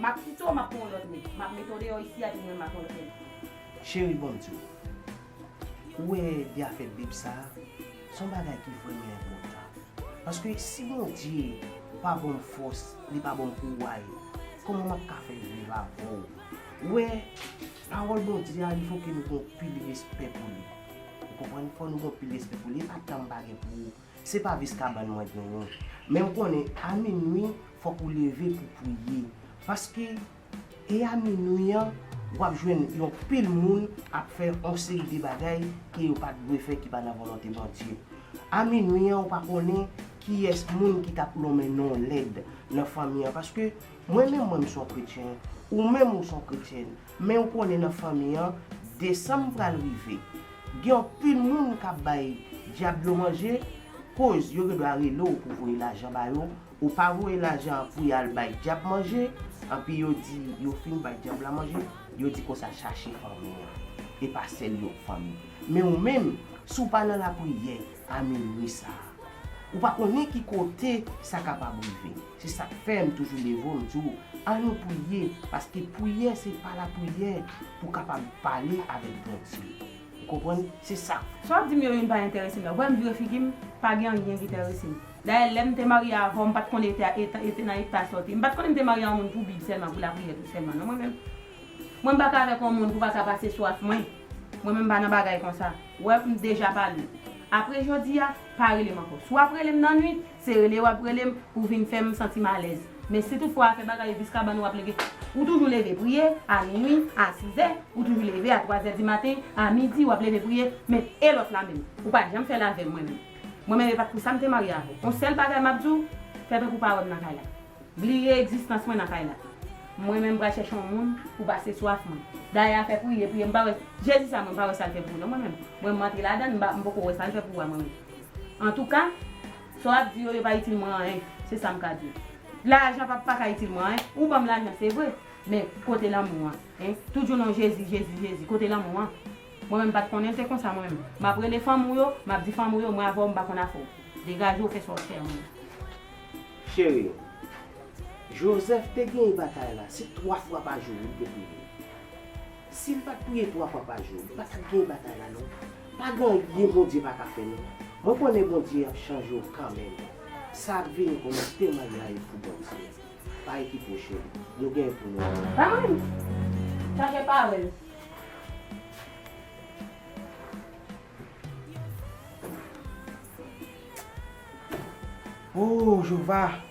Map kite w map pran yon lot neg. Map mete w deyo isi a di mwen makon lòt neg. Cheri bonm diw. Ou wè byafè bib sa a son bagay ki vrèman enpòtan. Paske si Bondye pa bonm fòs li pa bonm kouway kòman map ka fè viv avèw. Ou wè pawòl Bondye a li foke nou gon pil respè pou li. Ou konprann fò nou gon pil respè pou li epa tanm pa gen pou Se pa vis kabann mwen genyen. Men m konnen a minwi fòk ou leve pou priye. Paske e a minwi an w ap jwenn yon pil moun ap fè yon seri de bagay ke yo pa t dwe fè ki pa nan volonte Bondye. A minwi an ou pa konnen kiyès moun ki t ap lonmen non w lèd nan fanmi an. Paske mwen menm mwen m s on kretyen, ou menm ou s on kretyèn. Men ou konnen nan fanmi an desanm pral rive gen yon pil moun kap bay dyab yo manje koz yo gendwa rele w pou voye lajan ba yo ou pa voye lajan an pou yal bay dyab manje anpi yo di yo fin bay dyab la manje yo di konsa chache fanmi an epa sèl yon fanmi men ou menm si w pa nan lapriyè a minwi sa ou pa konnen ki kote sa kapab rive. Se sak fèm toujou leve m di w al nou priye paske priyè se pa la priyè pou kapab pale avèk Bondye ou konprann se sa. Sa wap dim yo youn pa entèrese m la wèm vire figi m pa gen anyen ki tèrese m dayè lèm te marye avèw m pat konn eta eta nan eta sa w te m pat konnen m te marye yon moun pou bib sèlman pou lapriyè tou sèlman non mwen menm mwen m paka avèk yon moun pou paka pase sou ak mwen mwen menm m pa nan bagay konsa wè m deja pale apre jodi a pa rele m ankò si wap rele m nan nwit Se rele wap rele m pou vin fè m santi m alèz. Men si tout fwa afè bagay vis kabann wap leve. Ou toujou leve priye, a minwi, a sizè, ou toujou leve a twazè di maten, a midi wap leve priye, men e lòt la menm? Ou pa janm fè l avè m mwen menm. Mwen menm e pat pou sa m te marye avè w. On sèl bagay map di w, fè tankou w pa wè m nan kay la. Bliye egzistans mwen nan kay la. Mwen menm pral chèche on moun pou pase swaf mwen. Dayè afè priye, priye m pa wè, Jezi sa mwen m pa wè sa l fè pou non mwen menm. Mwen m antre ladan l m pa m poko wè sa l fè pou a mwen menm. Antouka, sa w ap di yo, yo pa itil mwen anyen. Se sa m ka di w. Lajan pa paka itil mwen anyen. Ou ban m lajan, se vre. Men, kote lanmou an? Hein? Toujou non Jezi, Jezi, Jezi. Kote lanmou an? Mwen menm m pa t konnen l te konsa mwen menm. M ap rele fanmi w yo, m ap di fanmi w yo mwen avè w m pa konn afè w. Degaje w fè sa w fè an menm. Cheri m. Joseph te genyen batay la. Se twa fwa pa jou li te priye. Sim pat priye 3 fwa pa jou m patap gen batay la non pagen anyen bondye paka fè non mwen konnen bondye ap chanje w kanmenm sa ap vini pou nou temanyay pou bondye bay ki pwoche m nou gen pou nou ap Amen Chanje pawel. Ooh Jeovah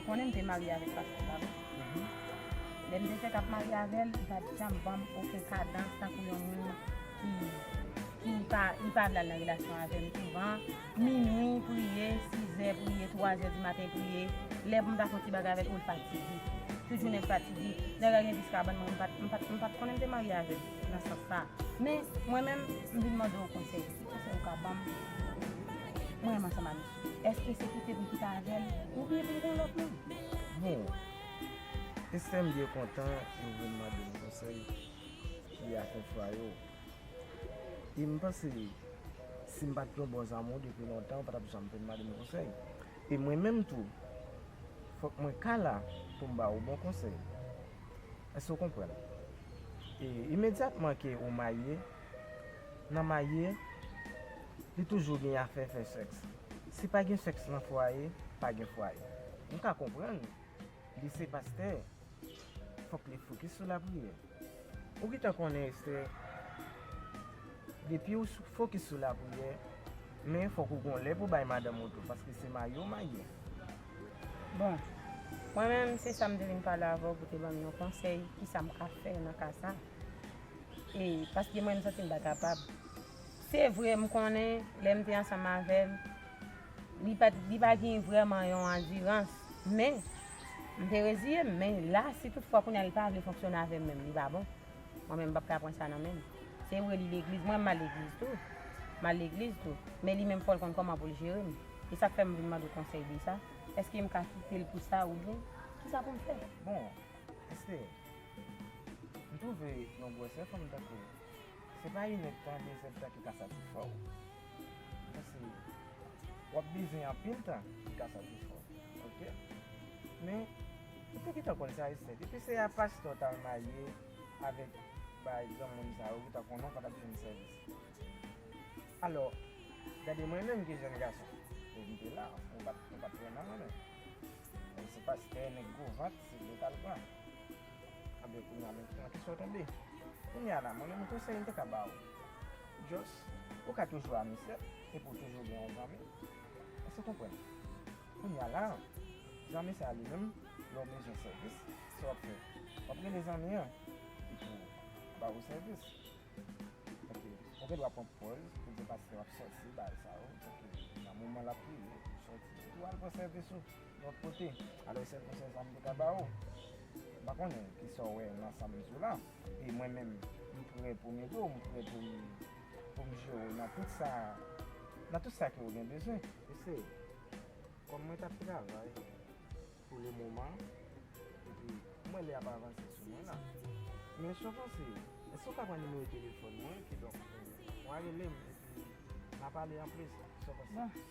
Ou konnen m te marye avèk pastè sa wi. Lè m te fèk ap marye avè l, li pa t janm ban m oken kadans tankou yon moun ki ki pa li pa vle al nan relasyon avè m souvan. Minui priye, sizè priye, twazè di maten priye. Lè pou m ta fè yon ti bagay avè l, o l fatige. Tout jounen l fatige. Lè l al gen 10 ka bann mwen, m pa t m pa t m pa t konnen m te marye avè l nan sans sa. Men, mwen menm, m vin mande w konsèy. Ki konsèy ou ka ban m pou m ansanm avè l? Eske se kite pou kite avèl ou byen pou m gon lòt moun. Bon Esther m byen kontan ou vin mande m konsèy li ak yon frè yo e m panse si m pat yon bon zanmi w depi lontan ou patap janm vin mande m konsèy e mwen menm tou fòk mwen ka la pou m ba ou bon konsèy èske w konprann e imedyatman ke ou marye. nan marye li toujou gen afè fè sèks. Si pa gen sèks nan fwaye, pa gen fwaye. M ka konprann li se pastè, fòk li fokis sou lapriyè. Ou gentan konnen Esther, depiw fokis sou lapriyè, men fòk ou gon lè pou bay madanm ou tou paske se marye ou marye. Bon, mwen menm se sa m te vin pale avè w pou te ban m yon konsèy kisa m ka fè nan ka sa. E paske mwen m santi m pa kapab. Se vre m konnen lè m te ansanm avè l, li pa t, li pa gen vrèman yon andirans. Men, m te reziye m. Men la, si tout fwa kounye a li pa vle fonksyone avè m menm, li pa bon. Mwen menm m pap ka pran sa nan men l. Se vre li legliz, mwen m al legliz tou. M al legliz tou. Men li menm fò l konn kòman pou l jere m. E sa k fè m vin mande w konsèy de sa. Èske m ka kite l pou sa oubyen kisa pou m fè? Bon, Esther, M twouve yon gwosè fanm tankou w se pa inèd tan, dezèd tan ki ka satisfè w. Mwen se w ap beze anpil tan ki ka satisfè w. Ok. Men, ou te gentan konn sa Esther. Depi se a pastè w t al marye avèk bay granmoun sa yo ou gentan konnen w pa t ap jwenn sèvis. Alò, gade mwen menm ki jèn gason. E m te la. Mwen pa t pran nan mwen menm. Se pastè nèg gwo vant se li yo t al pran. Anbyen kounya menm ki nan kesyon w tonbe. Kounya la mwen menm konsèy m te ka ba w just ou ka toujou amusè epi w toujou gen yon zanmi. Èske w konprann? Kounya la zanmi sa li menm lè w bezwen sèvis sa w ap fè? W ap rele zanmi an li pou ba w sèvis. Ok ou gen dwa pran pòz pou di paske w ap sòti bagay sa yo ok nan moman l ap priye pou w sòti epi w al pran sèvis ou. Lòt kote, alò sè pou sè sa m te ka ba ou. M pa konnen ki sa w wè nan sa m di w la. E mwen menm, m prè pou m ede w, m prè pou m jere w nan tout sa, nan tout sa ke ou gen bezwen. Eseye. Kòm mwen t ap travay pou le moman, epi m wè lè ap avanse sou mwen la. Men si w panse, èske ou ka pran nimewo telefòn mwen, kidonk, w'a rele m, epi n'a pale anplis, sa w panse?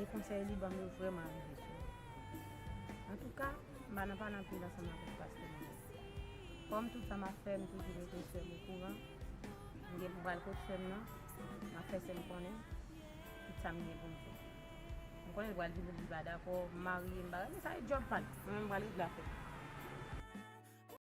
E konsèy li banm yo vrèman rive sou mwen. Antouka, m pa nan pale anpil ansanm avèk pastè Moris. Kòm tout sa m ap fè, m toujou mete sè m okouran. M gen pou m pral kot sè m nan, m ap fè sè m konnen tout sa m gen pou m fè. M konnen l pral di m pou m pa dakò, m marye, m bagay men sa se djòb pa l. Mwen menm m pral regle afè m.